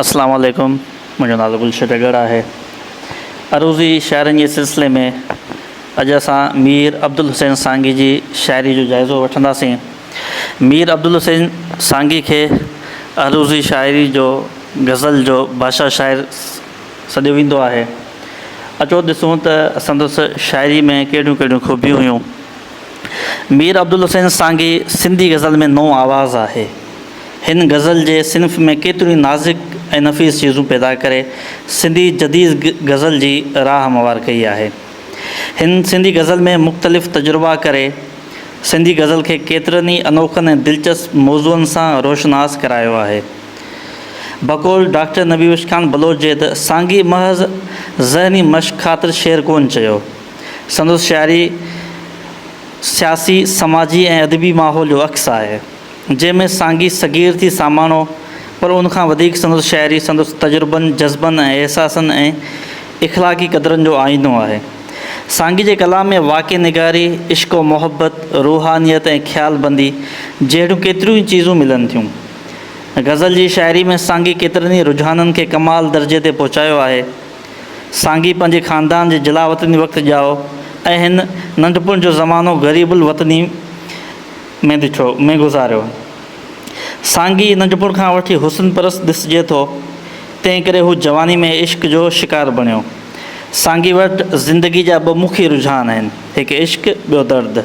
اسلام عليڪم منهنجو نالو گلشن ڊگهڙ آهي عروضي شاعرن جي سلسلي ۾ اڄ اسان مير عبدالحسين سانگي جي شاعري جو جائزو وٺنداسين مير عبدالحسين سانگي کي عروضي شاعري جو غزل جو بادشاهه شاعر سڏيو ويندو آهي اچو ڏسون ته سندس شاعري ۾ ڪهڙيون ڪهڙيون خوبيون هيون مير عبدالحسين سانگي سنڌي غزل ۾ نو آواز آهي هن غزل جي صنف ۾ ڪيتريون ئي نازڪ ۽ نفيس چيزون پيدا ڪري سنڌي جديد غزل جي راهه هموار ڪئي آهي. هن سنڌي غزل ۾ مختلف تجربا ڪري سنڌي غزل کي ڪيترن ئي انوکن ۽ دلچسپ موضوعن سان روشناس ڪرايو آهي. بقول ڊاڪٽر نبي بخش خان بلوچ جي ته سانگي محض ذهني مشق خاطر شعر ڪونه چيو. سندس شاعري سياسي، سماجي ۽ ادبي ماحول جو عڪس آهي. جنهن ۾ سانگي صغير ٿي سامان هو، پر ان کان وڌيڪ سندس شاعري سندس تجربن، جذبن ۽ احساسن ۽ اخلاقي قدرن جو آئينو آهي. سانگي جي ڪلام ۾ واقعه نگاري، عشق و محبت، روحانيت ۽ خيال بندي جهڙيون ڪيتريون ئي چيزون ملن ٿيون. غزل جي شاعري ۾ سانگي ڪيترن ئي رجحانن کي ڪمال درجي تي پهچايو آهي. سانگي پنهنجي خاندان جي جلاوطني وقت ڄائو ۽ هن ننڍپڻ جو زمانو غريب الوطني، ۾ ڏٺو، ۾ گذاريو. سانگي ننڍپڻ کان وٺي حسن پرست ڏسجي ٿو، تنهن ڪري هو جواني ۾ عشق جو شڪار بڻيو. سانگي وٽ زندگي جا ٻه مکيه رجحان آهن، هڪ عشق، ٻيو درد.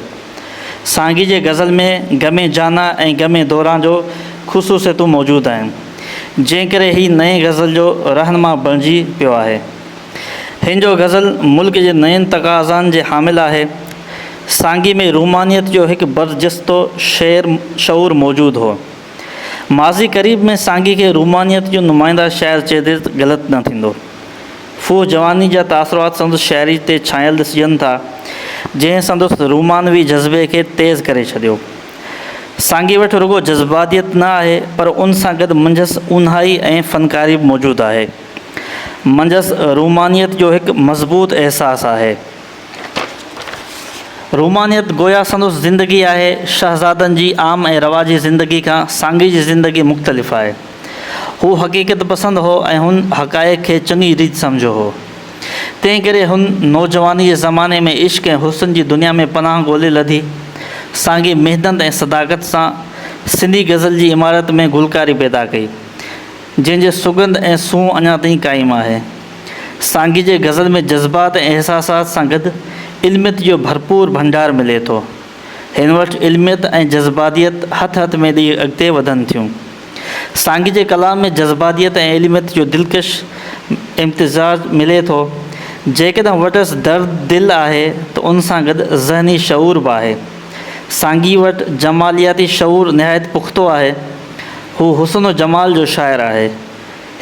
سانگي جي غزل ۾ غم جانا ۽ غم دوران جو خصوصيتون موجود آهن، جنهن ڪري هي نئين غزل جو رهنما بڻجي پيو آهي. هن جو غزل ملڪ جي نين تقاضائن جي حامل آهي. سانگي ۾ رومانيت جو هڪ برجستو شعر شعور موجود هو. ماضي قريب ۾ سانگي کي رومانيت جو نمائنده شاعر چئجي ته غلط نه ٿيندو. ڦوهه جواني جا تاثرات سندس شاعري تي ڇانيل ڏسجن ٿا، جنهن سندس رومانوي جذبي کي تيز ڪري ڇڏيو. سانگي وٽ رڳو جذباتيت نه آهي، پر ان سان گڏ منجهس اونهائي ۽ فنڪاري به موجود آهي. منجهس رومانيت جو هڪ مضبوط احساس آهي. رومانيت گويا سندس زندگي آهي. شهزادن جي عام ۽ رواجي زندگي کان سانگي جي زندگي مختلف آهي. هو حقيقت پسند هو ۽ هن حقائق کي چڱي ريت سمجهيو هو. تنهن ڪري هن نوجواني جي زماني ۾ عشق ۽ حسن جي دنيا ۾ پناهه ڳولي لڌي. سانگي محنت ۽ صداقت سان سنڌي غزل جي عمارت ۾ گلڪاري پيدا ڪئي. جنهن جي سڳنڌ ۽ سونهن اڃا تائين قائم آهي. سانگي جي غزل ۾ جذبات ۽ احساسات سان گڏ علميت جو ڀرپور ڀنڊار ملي ٿو. هن وٽ علميت ۽ جذباتيت هٿ هٿ ۾ ڏئي اڳتي وڌن ٿيون. سانگي جي ڪلام ۾ جذباتيت ۽ علميت جو دلڪش امتزاج ملي ٿو. جيڪڏهن وٽس درد دل آهي ته ان سان گڏ ذهني شعور به آهي. سانگي وٽ جمالياتي شعور نهايت پختو آهي. هو حسن و جمال جو شاعر آهي.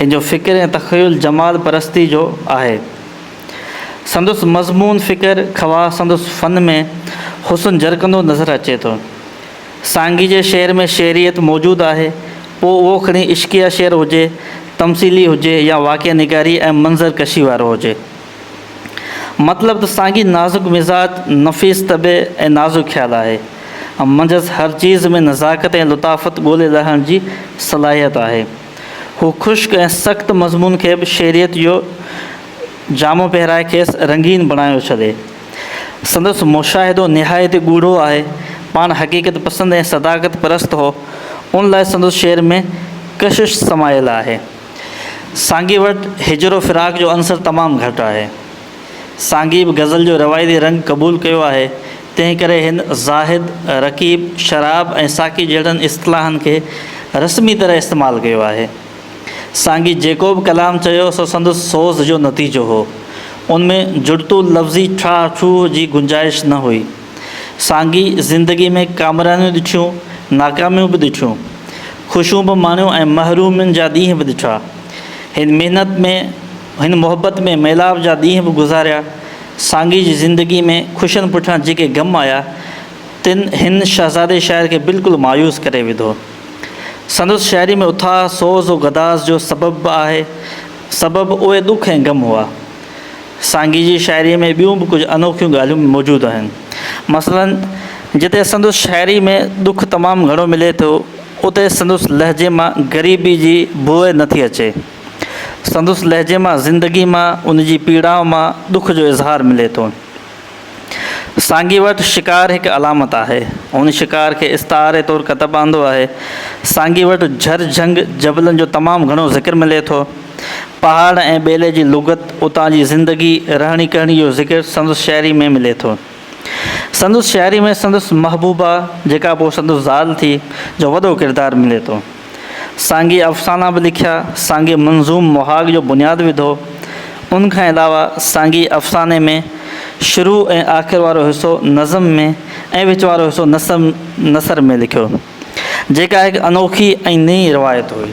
هن جو فڪر ۽ تخيل جمال پرستي جو آهي. سندس مضمون فڪر خواهه سندس فن ۾ حسن جرڪندو نظر اچي ٿو. سانگي جي شعر ۾ شعريت موجود آهي، پوء اهو کڻي عشقيه شعر هجي، تمثيلي هجي يا واقعه نگاري ۽ منظر ڪشي وارو هجي. مطلب ته سانگي نازڪ مزاج، نفيس طبع ۽ نازڪ خيال آهي. منجهس هر چيز ۾ نزاڪت ۽ لطافت ڳولي لاهڻ جي صلاحيت آهي. هو خشڪ ۽ سخت مضمون کي به شعريت جو جامو پهرائي کيس رنگين بڻايو ڇڏي. سندس مشاهدو نهايت ڳوڙهو آهي. پاڻ حقيقت پسند ۽ صداقت پرست هو. ان لاء سندس شعر ۾ ڪشش سمايل آهي. سانگي وٽ هجر و فراق جو عنصر تمام گهٽ آهي. سانگي به غزل جو روايتي رنگ قبول ڪيو آهي، تنهن ڪري هن زاهد، رقيب، شراب ۽ ساقي جهڙن اصطلاحن کي رسمي طرح استعمال ڪيو آهي. سانگي جيڪو به ڪلام چيو سو سندس سوز جو نتيجو هو. ان ۾ جڙتو لفظي ٺاهه ٺوهه جي گنجائش نه هئي. سانگي زندگي ۾ ڪامرانيون ڏٺيون، ناڪاميون به ڏٺيون، خوشيون به ماڻيون ۽ محرومين جا ڏينهن به ڏٺا. هن محنت ۾، هن محبت ۾ ميلاپ جا ڏينهن به گذاريا. سانگي جي زندگي ۾ خوشين پٺيان جيڪي غم آيا، تن هن شهزادي شاعر کي بلڪل مايوس ڪري وڌو. سندس شاعري ۾ اٿاهه، سوز و گداز جو سبب به آهي، سبب اهي ڏک ۽ غم هئا. سانگي جي شاعريء ۾ ٻيون به ڪجهه انوکيون ڳالهيون موجود آهن. مثلاً جتي سندس شاعريء ۾ ڏک تمام گهڻو ملي ٿو، اتي سندس لهجي مان غريبيء جي بوء نه ٿي اچي. سندس لهجي مان زندگيء مان، ان جي پيڙائن مان ڏک جو اظهار ملي ٿو. سانگي وٽ شڪار هڪ علامت آهي. هن شڪار کي استعاري طور ڪتب آندو آهي. سانگي وٽ جھر جھنگ جبلن جو تمام گھڻو ذڪر ملي ٿو. پهاڙ ۽ ٻيلي جي لغت، اتان جي زندگي، رهڻي ڪهڻي جو ذڪر سندس شاعري ۾ ملي ٿو. سندس شاعري ۾ سندس محبوبه، جيڪا پوء سندس زال ٿي، جو وڏو ڪردار ملي ٿو. سانگي افسانا به لکيا، سانگي منظوم مهاڳ جو بنياد وڌو. ان کان علاوه سانگي افساني ۾ شروع ۽ آخر وارو حصو نظم ۾ ۽ وچ وارو حصو نثر نثر ۾ لکيو، جيڪا هڪ انوکي ۽ نئين روايت هئي.